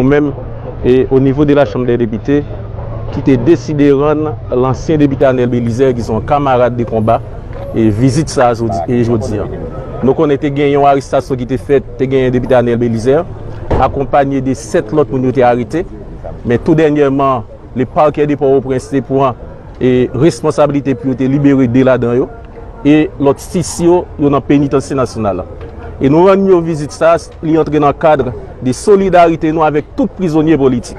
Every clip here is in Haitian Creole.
Ou menm, e o nivo de la Chanm dè Depite, ki te deside rann lansyen Depite Anel Belizaire, ki se yon kamarad de konba, e vizit sa a jodi, e jodi an. Nou konnen te gen yon arestasyon ki te fèt, te genyen Depite Anel Belizaire, akonpanye de 7 lòt moun yo te arete. Men tou dènyèman, le Parquet de Port-au-Prince te pran, e responsabilite pou yo te libere 2 ladan yo, e lòt 6 yo, yo nan Penitansye Nasyonal la. E nou rann yo vizit sa a. Li antre nan kad de solidarite nou avèk tout prizonye politik.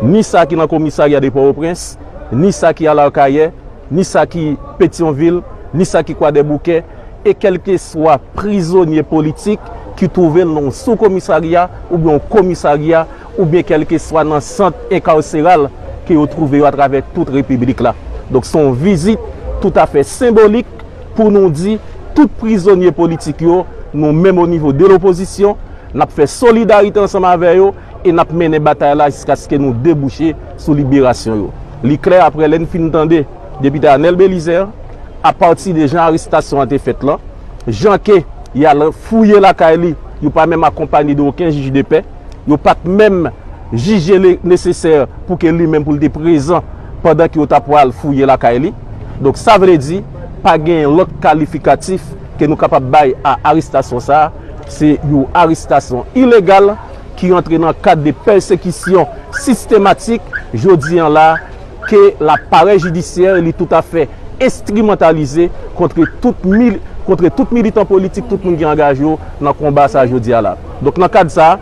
Ni sa ki nan komisarya de Pòtoprens, ni sa ki al Akayè, ni sa ki Petyonvil, ni sa ki Kwadèboukè, e kèlkeswa prizonye politik ki twouve l nan yon soukomisarya oubyen yon komisarya oubyen kèlkeswa nan sant enkarseral ke yo twouve yo atravè tout Repiblik la. Donk se yon vizit toutafè senbolik. pou nou di tout prizonye politik yo nou menm o nivo de lopozisyon n ap fè solidarite ansanm avè yo e n ap mennen batay la jiskaske nou debouche sou liberasyon yo. Li klè aprè lè n fin tande Depite Anel Belizaire a pati de jan arestasyon an te fèt lan, jan ke y al fouye lakay li, yo pa menm akonpanye de oken jij de pè, Yo pa t menm jije li nesesè pou ke li menm pou l te prezan pandan ke yo ta pwal fouye lakay li. Donk sa vle di, pa gen lòt kalifikatif ke nou kapab bay a arestasyon sa a. Se yon arestasyon ilegal ki rantre nan kad de pèsekisyon sistematik jodi an la. ke laparèy jidisyè li toutafè enstrimantalize kontre tout mil, kontre tout militan politik, tout moun ki angaje yo nan konba sa jodi a la. Donk nan kad sa,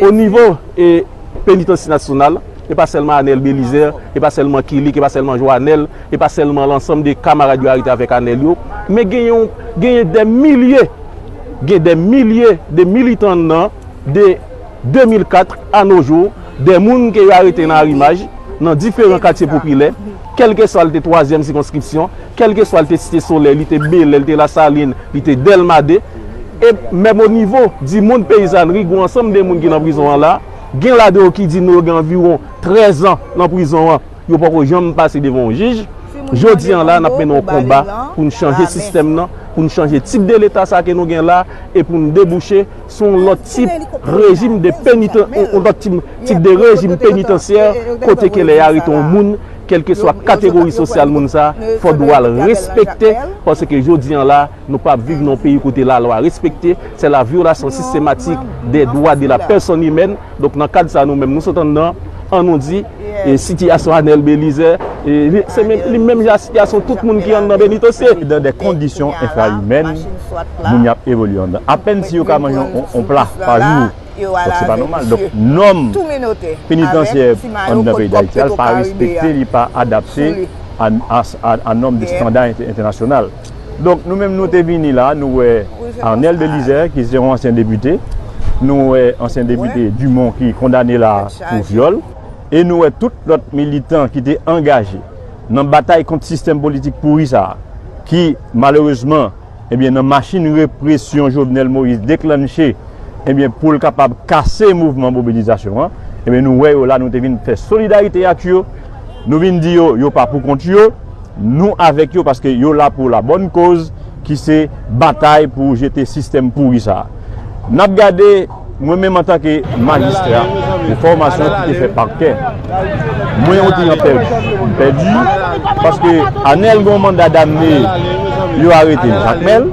o nivo e Penitansye Nasyonal, e pa sèlman Anel Belizè, e pa sèlman Kilik, e pa sèlman Joanèl, e pa sèlman lansanm de kamarad yo arete avèk Anel yo, men gen yon, genyen dè milye, gen dè milye de militan nan, de. 2004 a no jou, de moun ke yo arete nan Arimaj, nan diferan katye popilè, kèlkeswa l te twazyèm sikonskripsyon, kèlkeswa l te Site Solèy, li te Belè, li te Lasalin, li te Dèlma 2, e menm o nivo di mond peyizanri, gou ansanm de moun ki nan prizon an la, gen ladan yo ki di nou yo gen anviwon 13 an nan prizon an, yo poko janm pase devan yon jij. Jodi an la, n ap mennen yon konba pou n chanje sistèm nan, pou n chanje tip de Leta sa ke nou gen la, e pou n debouche se yon lòt tip rejim de penitans, yon lòt tip de rejim penitansye kote ke lè y arete yon moun, kèlkeswa kategori sosyal moun sa, fò dwa l respekte, paske jodi an la, nou pa viv nan yon peyi kote lalwa respekte, se la vyolasyon sistematik de dwa de la pèsòn imèn. Donk nan kad sa nou menm nou sot anndan an nou di e sitiyasyon Anel Belize e se menm li menm jan a sitiyasyon tout moun ki anndan Benitosye. Yo nan de kondisyon enfra imèn, moun yo ap evolye anndan. Apèn si yo ka manje yon pla pa jou. Donk se pa nòmal. Donk nòm penitansye anndan peyi Dayiti a pa respekte li pa adapte a nòm de standard entènasyonal. Donk nou menm nou te vini la, nou wè Arnel Belizaire ki se yon ansyen depite, nou wè ansyen depite Dumont ki kondane la pou vyòl, e nou wè tout lòt militan ki te angaje nan batay kont sistèm politik pouri sa a, ki malerezman ebyen nan machin represyon Jovenel Moïse deklannche ebyen pou l kapab kase mouvman mobilizasyon an, ebyen nou wè yo la, nou te vin fè solidarite ak yo, nou vin di yo yo pa pou kont yo. Nou avèk yo paske yo la pou la bòn koz ki se batay pou jete sistèm pouri sa a. N ap gade, mwen menm antanke majistra de fòmasyon ki te fè pakè, mwen yon kliyan pèdi. M pèdi paske Anèl gen yon manda damne yo arete l Jakmèl.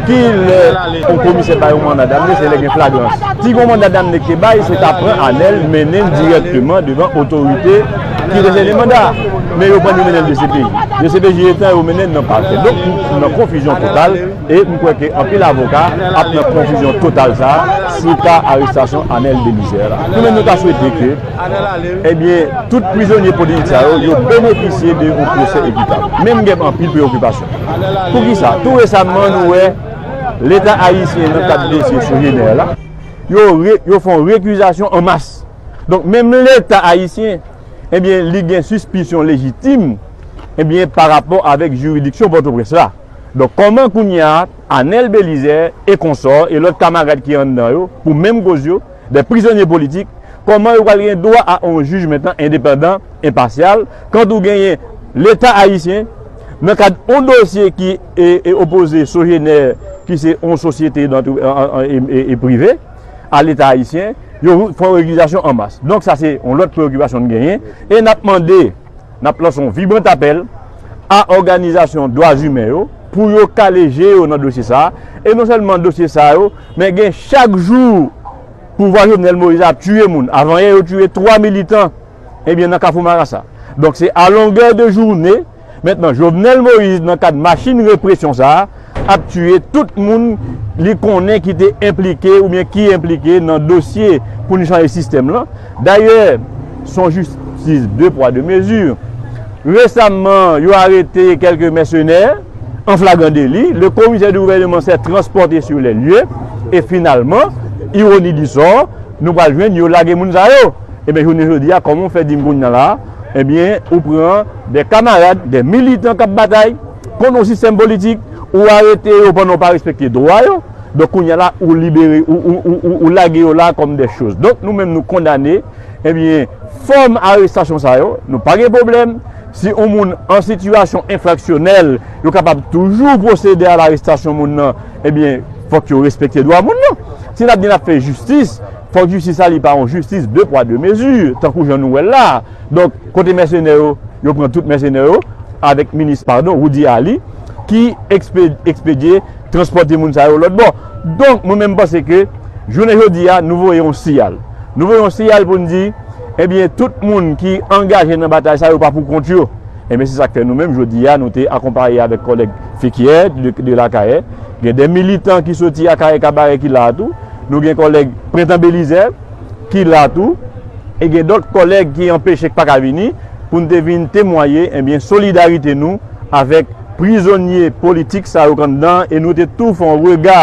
Ki lè yon komisè bay yon manda damne se lè gen flagrans. Si gen yon manda damne ki te bay, se ta pran Anèl mennen l dirèkteman devan otorite ki resevni manda a. Men yo pran yo mennen l dcpj. Dcpj etan yo mennen l nan pakè. Donk nou nan konfizyon total e m kwè ke anpil avoka ap nan konfizyon total sa a sou ka arestasyon Anèl Belizè a la. Nou menm nou ta swete ke. Ebyen, tout prizonye politik sa yo, yo benefisye de yon pwosè ekitab. Men m gen anpil preokipasyon. Poukisa? Tou resamman nou wè Leta ayisyen nan kad dosye Chouineur la, yo fè yon rekizasyon an mas. Donk menm Leta ayisyen, ebyen li gen sispisyon lejitim, ebyen parapò avèk jiridiksyon Pòtoprens la. Donk kòman kounya Anèl Belizè e konsò e lòt kamarad ki anndan yo pou menm koz yo, de prizonye politik, kòman yo pral gen dwa a yon jij mentan endepandan, enpasyal, kant ou genyen Leta Ayisyen, nan kad yon dosye ki opoze Sogener ki se yon sosyete prive a Leta Ayisyen, yo fè yon rekizasyon an mas. Donk sa se yon lòt preokipasyon n genyen e n ap mande. n ap lanse yon vibrant apèl a òganizasyon dwa zimen yo pou yo kale je yo nan dosye sa a, e non sèlman dosye sa yo, men gen chak jou pouvwa Jovenel Moïse la ap tiye moun, avanyè yo tiye 3 militan ebyen nan kafou marasa. Donk se a longè de joune mentnan Jovenel Moïse nan kad machin represyon sa a, ap tiye tout moun li konnen ki te enplike ou byen ki enplike nan dosye pou nou chanje sistèm lan. Dayè, son jistis de pwa de mezi. Resamman, yo arete kelke mèsenè an flagran deli. Le komisè de gouvèneman sè transpòte sou lè lye. E finalman, ironi di sò, nou pral jwenn yo lage moun sa yo. E byen jounen jodi a, kòman ou fè di m kounya la, e byen ou pran de kamarad, de militan kap batay. Kon nou sistèm politik ou arete yo pandan ou pa respekte dwa yo donk kounya la ou libere ou lage yo la kòm dè choz donk nou menm nou kondane ebyen fòm arestasyon sa yo nou pa gen pwoblèm si yon moun an sitiyasyon enfraksyonèl yo kapab toujou pwosede a larestasyon moun nan ebyen fòk yo respekte dwa moun nan si n ap di n ap fè jistis fòk jistis la li pa yon jistis de pwa de mezi tankou jan nou wè l la. Donk kote mèsenè yo, yo pran tout mèsenè yo avèk minis padon Roudy Aly ki ekspedye transpòte moun sa yo lòt bò. Donk mwen menm panse ke jounen jodi a nou voye yon siyal. Nou voye yon siyal pou n di ebyen tout moun ki angaje nan batay sa yo pa pou kont yo. Ebyen se sa k fè nou menm jodi a nou te akonpaye avèk kòlèg Fekyè de Lakayè. Gen de militan ki soti Akayè Kabarè ki la a tou. Nou gen kòlèg Prentan Belizè. ki la tou, e gen dòt kòlèg ki anpeche k pa ka vini, pou n te vin temwaye enbyen solidarite nou avèk prizonye politik sa yo k anndan an, e nou te tou fè yon rega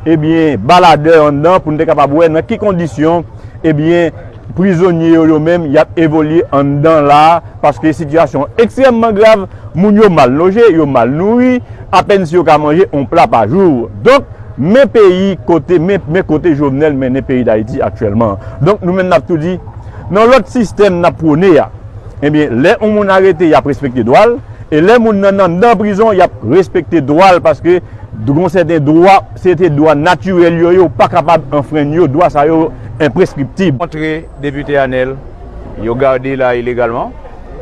ebyen baladè anndan pou n te kapab wè nan ki kondisyon ebyen prizonye yo yo menm y ap evolye anndan la a, paske sitiyasyon an ekstrèmman grav. Moun yo mal loje, yo mal nouri, apèn si yo ka manje yon pla pa jou. Donk, men peyi kote, men kote Jovenel mennen peyi Dayiti aktyèlman. Donk, nou menm n ap tou di, nan lòt sistèm n ap pwone a, ebyen, lè yon moun arete, y ap respekte dwa l, e lè moun nan anndan prizon, y ap respekte dwa l paske gon sèten dwa, se te dwa natirèl yo ye, ou pa kapab anfrenn yo, dwa sa yo enpreskriptib. Montre Depite Anel yo garde la ilegalman.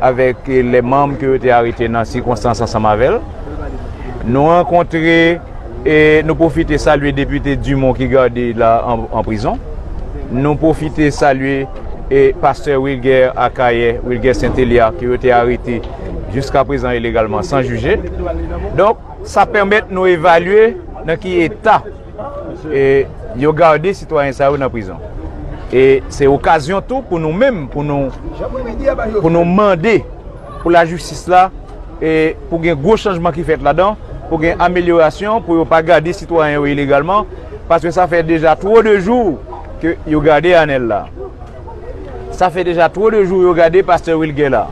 avèk lè manm ke yo te arete nan sikonstans ansanm avè l. Nou rankontre e nou pwofite salye depite Dumont ki gade la an prizon. Nou pwofite salye e pastè Wilguer Akayè, Wilguer Saint Elia ke yo te arete jiska prezan ilegalman san jije. Donk sa pèmèt nou evalye nan ki eta. e yo garde sitwayen sa yo nan prizon e se okazyon tou pou nou menm pou nou pou nou mande pou la jistis la e pou gen gwo chanjman ki fèt ladan pou gen amelyorasyon pou yo pa garde sitwayen yo ilegalman paske sa fè deja two de jou ke yo garde anel la. Sa fè deja two de jou yo gade pastè Wilguer la.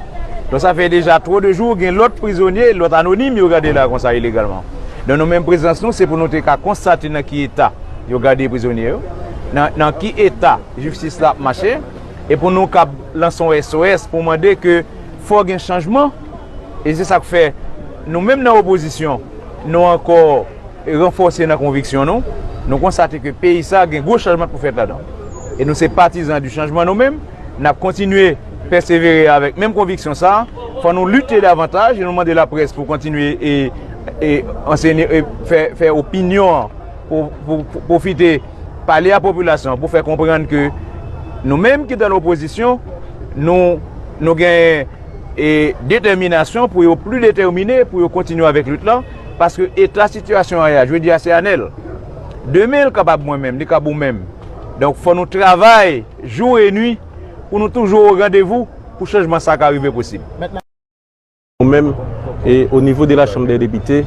Donk sa fè deja two de jou gen lòt prizonye, lòt anonim yo gade la konsa ilegalman. Donk nou menm prezans nou se pou nou te ka konstate nan ki eta yo gade prizonye yo, nan ki eta jistis la ap mache e pou nou kab lanse yon SOS pou mande ke fò gen chanjman e se sa k fè nou menm nan opozisyon nou ankò ranfòse nan konviksyon nou, nou konstate ke peyi sa a gen gwo chanjman pou fèt ladan. E nou se patizan di chanjman nou menm, n ap kontinye pèsevere avèk menm konviksyon sa a, fò nou lite davantaj e nou mande laprès pou kontinye e fè opinyon an, pou pwofite pale a popilasyon an pou fè konprann ke nou menm ki nan lopozisyon, nou gen detèminasyon pou yo pli detèmine pou yo kontinye avèk lit lan. Paske eta sitiyasyon an ye a, jodi a se Anel. Demen li kapab mwen menm, li kab ou menm. Donk fò nou travay jou e nwi pou nou toujou o randevou pou chanjman sa ka rive posib. Nou menm, o nivo de la Chanm dè Depite,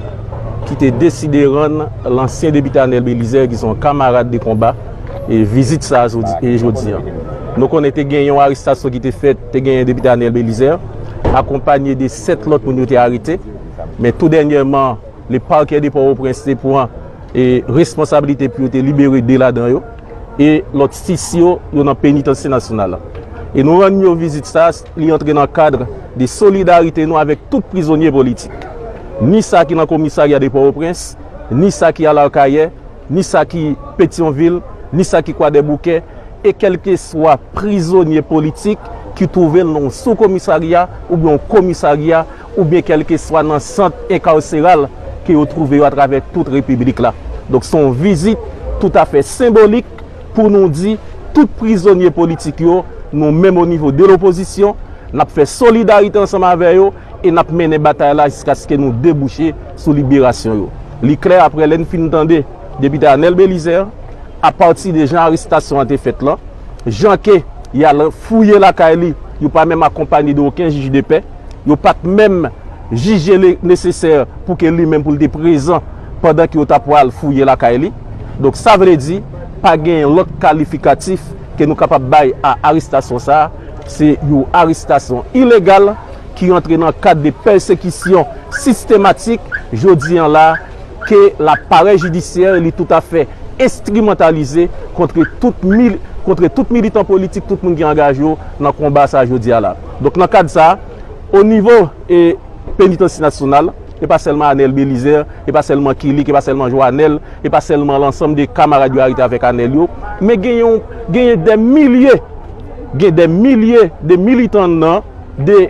ki te deside rann lansyen depite Anel Belizaire ki se yon kamarad de konba, vizit sa a jodi a. Nou konnen te gen yon arestasyon ki te fèt, te gen depite Anel Belizaire, akonpanye de 7 lòt moun yo te arete. Men tou dènyèman, le Parquet de Port-au-Prince te pran responsabilite pou yo te libere 2 ladan yo e lòt 6 yo, yo nan Penitansye Nasyonal la. E nou rann yo vizit sa, li antre nan kad de solidarite nou avèk tout prizonye politik. Ni sa ki nan komisarya de Port-au-Prince, ni sa ki al Arcahaie, ni sa ki Petion-Ville, ni sa ki Kwadèboukè, e kèlkeswa prizonye politik ki twouve l nan yon sou-komisarya oubyen yon komisarya, oubyen kèlkeswa nan sant enkawseral ke yo twouve yo atravè tout Repiblik la. Donk se yon vizit toutafè senbolik pou nou di tout prizonye politik yo, nou menm o nivo de lopozisyon, n ap fè solidarite ansanm avè yo e n ap mennen batay la jiskaske nou debouche sou liberasyon yo. Li klè aprè lè n fin tande Depite Anel Belizaire, apati de jan arestasyon an te fèt lan, jan ke y al fouye lakay li, yo pa menm akonpanye de oken jij de pè, Yo pa t menm jije li nesesè pou ke li menm pou l te prezan pandan ke yo ta pwal fouye lakay li. Donk sa vle di, pa gen lòt kalifikatif ke nou kapab bay a arestasyon sa a. Se yon arestasyon ilegal ki rantre nan kad de pèsekisyon sistematik jodi an la. ke laparèy jidisyè li toutafè enstrimantalize kontre tout mil, kontre tout militan politik, tout moun ki angaje yo nan konba sa jodi a la. Donk nan kad sa, o nivo e Penitansye Nasyonal, e pa sèlman Anel Belizaire, e pa sèlman Kilik, e pa sèlman Joanel, e pa sèlman lansanm de kamarad yo arete avèk Anel yo, men gen yon, genyen dè milye, gen dè milye de militan nan, de.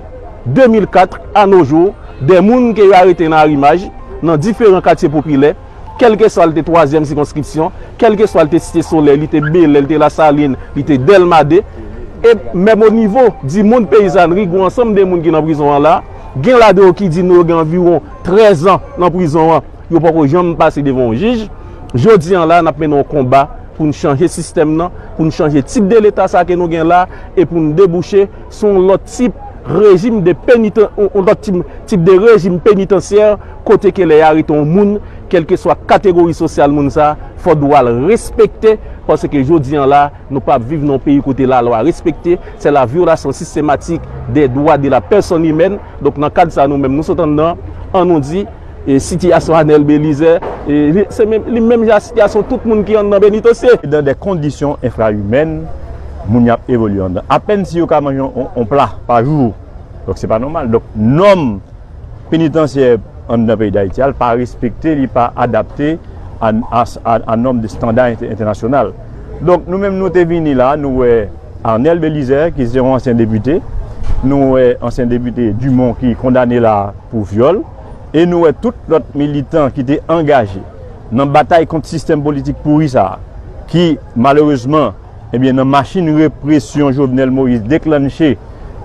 2004 a no jou, de moun ke yo arete nan Arimaj, nan diferan katye popilè, kèlkeswa l te twazyèm sikonskripsyon, kèlkeswa l te Site Solèy, li te Belè, li te Lasalin, li te Dèlma 2, e menm o nivo di mond peyizanri, gou ansanm de moun ki nan prizon an la, gen ladan yo ki di nou yo gen anviwon 13 an nan prizon an, yo poko janm pase devan yon jij. Jodi an la, n ap mennen yon konba pou n chanje sistèm nan, pou n chanje tip de Leta sa ke nou gen la, e pou n debouche. se yon lòt tip rejim de peniten, yon lòt tip de rejim penitensyè kote ke lè y arete yon moun, kèlkeswa kategori sosyal moun sa, fò dwa l respekte, paske jodi an la, nou pa ap viv nan yon peyi kote lalwa respekte, se la vyolasyon sistematik de dwa de la pèsòn imèn, donk nan kad sa nou menm nou sot anndan, an nou di. Sitiyasyon Anel Belize se li menm jan ak sitiyasyon tout moun ki anndan Benitosye. Dan dè kondisyon enfraimèn, moun yo ap evolye anndan. Apèn si yo ka manje yon pla pa jou. Donk se pa nòmal. Donk nòm penitansye anndan peyi Dayiti a pa respekte, li pa adapte a nòm de standa entènasyonal. Donk nou menm nou te vini la, nou wè Anel Belize ki se yon ansyen depite, nou wè ansyen depite Dumon ki kondane la pou vyòl. e nou wè tout lòt militan ki te angaje nan batay kont sistèm politik pouri sa a ki malerezman ebyen nan machin represyon Jovenel Moïse deklannche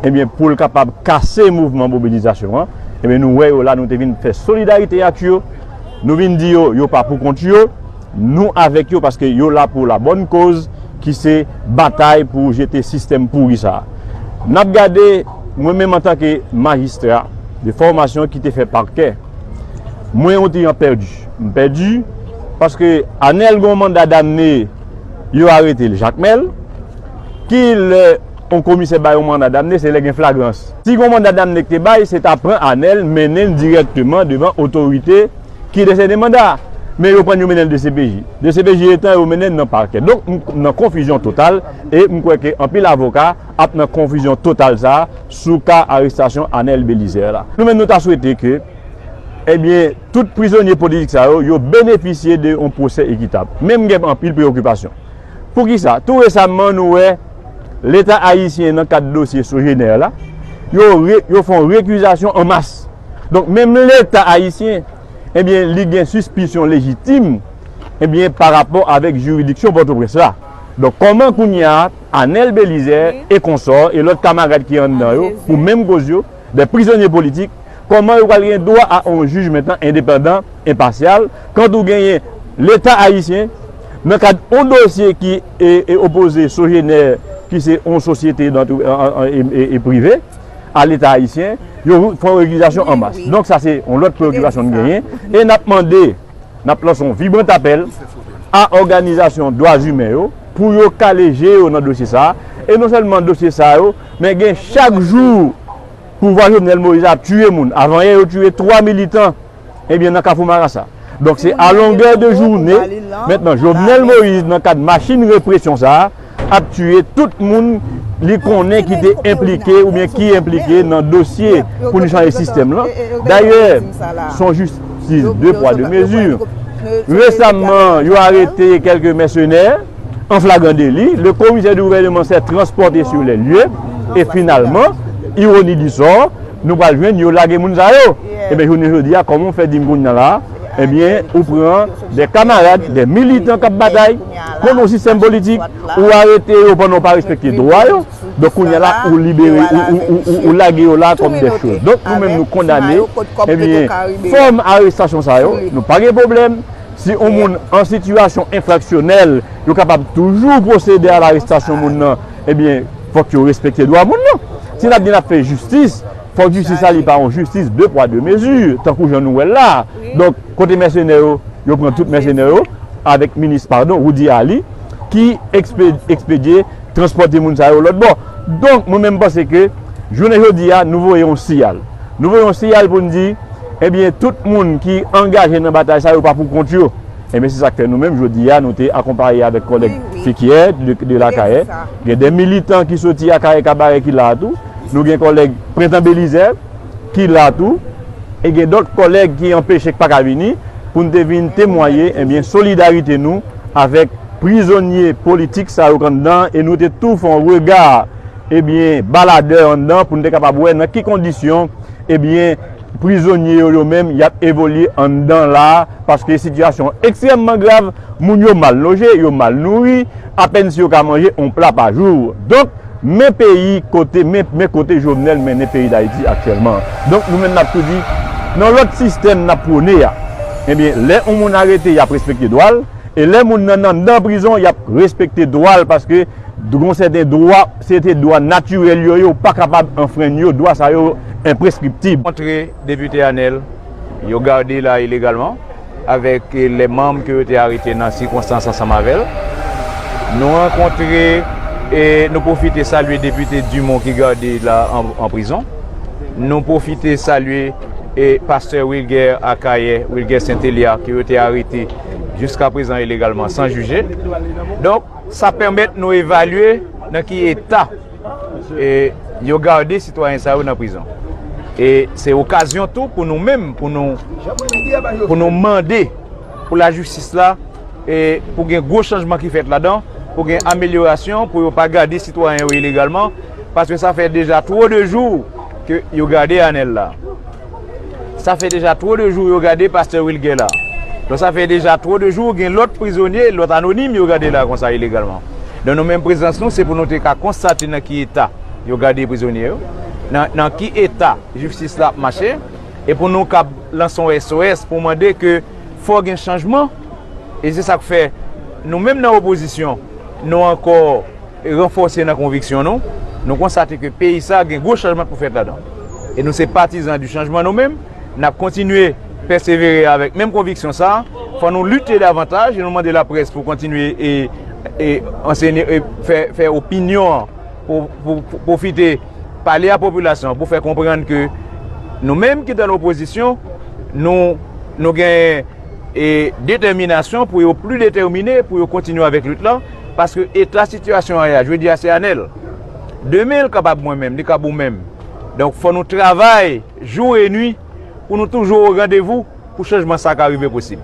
ebyen pou l kapab kase mouvman mobilizasyon an ebyen nou wè yo la nou te vin fè solidarite ak yo nou vin di yo yo pa pou kont yo Nou avèk yo paske yo la pou la bòn koz ki se batay pou jete sistèm pouri sa a. N ap gade, mwen menm antanke majistra de fòmasyon ki te fè pakè, mwen yon ti jan pèdi. M pèdi paske Anèl gen yon manda damne, yo arete l Jakmèl. Ki lè yon komisè bay yon manda damne se lè gen flagrans. Si gen yon manda damne ki te bay, se ta pran Anèl mennen l dirèkteman devan otorite. ki desène manda a, men yo pran yo mennen l dcpj. Dcpj etan yo mennen l nan pakè. Donk m nan konfizyon total e m kwè ke anpil avoka ap nan konfizyon total sa a sou ka arestasyon Anel Belizaire la. Nou menm nou ta swete ke ebyen tout prizonye politik sa yo, yo benefisye de yon pwosè ekitab. Men m gen anpil preokipasyon. Poukisa? Tou resamman nou wè leta ayisyen nan kad dosye Sogener la, yo fon rekizasyon an mas. Donk menm leta ayisyen ebyen li gen sispisyon lejitim ebyen pa rapò avèk jiridiksyon Pòtoprens la. Donk kòman kounye a Anèl Belizè e konsò e lòt kamarad ki anndan yo pou menm koz yo, dè prizonye politik, kòman yo pral gen dwa a on jij mentan endepandan, enpasyal, kant ou genyen leta ayisyen nan kad on dosye ki opoze Sogener ki se on sosyete e prive. a leta ayisyen, yo fè yon regilizasyon an mas. Donk sa se yon lòt preokipasyon nou genyen e n ap mande, n ap lanse yon vibrant apèl a òganizasyon dwa zimen yo pou yo kale je yo nan dosye sa a e non sèlman dosye sa yo men gen chak jou pouvwa Jovenel Moïse a ap tiye moun. Avanyè yo tiye 3 militan. Ebyen nan kafou marasa. Donk se a longè de joune, mentnan Jovenel Moïse nan kad machin represyon sa a, ap tiye tout moun li konnen ki te enplike oubyen ki enplike nan dosye pou nou chanje sistèm lan. Dayè, son jistis de pwa de mezi. Resamman, yo arete kelke mèsenè an flagran deli. Le komisè de gouvèneman sè transpòte sou lè lye. E finalman, ironi di sò, Nou pral jwenn yo lage moun sa yo. Ebyen jounen jodi a kòman ou fè di m kounya la a, ebyen ou pran de kamarad, de militan k ap batay kont yon sistèm politik, ou arete yo pandan ou pa respekte dwa yo, donk kounya la ou libere, ou lage yo la kòm de cho. Donk nou menm nou kondane, ebyen fòm arestasyon sa yo, nou pa gen pwoblèm, si yon moun an sitiyasyon enfraksyonèl, yo kapab toujou pwosede a larestasyon moun nan. Ebyen fòk yo respekte dwa moun yo. Si nap di nap fè jistis, fòk jistis la li pa yon jistis 2 pwa 2 mezi, tankou jan nou wèl la. Donk kote mèsenè yo, yo pran tout mèsenè yo avèk minis padon Roody Ali ki ekspedye transpòte moun sa yo lòt bò. Donk mwen menm panse ke jounen jodi a nou voye yon siyal. Nou voye yon siyal pou n di ebyen tout moun ki angaje nan batay sa yo pa pou kont yo. Ebyen se sak fè nou menm jodi a nou te akonpaye avèk kòlèg Fikyè de Lakayè, gen de militan ki soti Akayè Kabarè ki la tou, nou gen kòlèg Prentan Belizè ki la tou e gen dòt kòlèg ki anpeche k pa ka vini pou n te vin temwaye ebyen solidarite nou avèk prizonye politik sa yo k anndan e nou te tou fè yon rega ebyen baladè anndan pou n te kapab wè nan ki kondisyon ebyen Prizonye yo yo menm y ap evolye anndan la a paske sitiyasyon an ekstrèmman grav, moun yo mal loje, yo mal nouri, apèn si yo ka manje yon pla pa jou. Donk, men peyi kote, men kote Jovenel mennen peyi Dayiti aktyèlman an. Donk, nou menm n ap tou di, nan lòt sistèm n ap pwone a, ebyen, lè yon moun arete y ap respekte dwa l, e lè moun nan anndan prizon y ap respekte dwa l paske gen yon sèten dwa, Se te dwa natirèl yo, yo pa kapab anfrenn yo, dwa sa yo enpreskriptib. Montre Depite Anel yo gade la ilegalman avèk lè manm ke yo te arete nan sikonstans ansanm avè l. Nou rankontre e nou pwofite salye Depite Dumont ki gade la an prizon. Nou pwofite salye e Pastè Wilguer Akayè, Wilguer Saint Elia ke yo te arete jiskaprezan ilegalman san jije. Donk. Sa pèmèt nou evalye nan ki eta yo gade sitwayen sa yo nan prizon. E se okazyon tou pou nou menm pou nou mande pou lajistis la pou gen gwo chanjman ki fèt ladan, pou gen amelyorasyon, pou yo pa gade sitwayen yo ilegalman, paske sa fè deja two de jou ke yo gade Anel la. Sa fè deja two de jou yo gade pastè Wilguer la. Donk sa fè deja two de jou gen lòt prizonye, lòt anonim yo gade la konsa ilegalman. Donk nou menm prezans nou se pou nou te ka konstate nan ki eta yo gade prizonye yo, nan ki eta jistis la ap mache e pou nou kab lanse yon SOS pou mande ke fò gen chanjman e se sa k fè nou menm nan opozisyon nou ankò ranfòse nan konviksyon nou, nou konstate ke peyi sa a gen gwo chanjman pou fèt ladan. E nou se patizan di chanjman nou menm, n ap kontinye pèsevere avèk menm konviksyon sa a, fò nou lite davantaj e nou mande laprès pou kontinye e fè opinyon an, pou pwofite pale a popilasyon an pou fè konprann ke nou menm ki nan lopozisyon, nou gen detèminasyon pou yo pli detèmine pou yo kontinye avèk lit lan. Paske eta sitiyasyon aya, jodi a se Anel. Demen li kapab mwen menm, li kab ou menm. Donk fò nou travay jou e nwi pou nou toujou o randevou pou chanjman sa ka rive posib.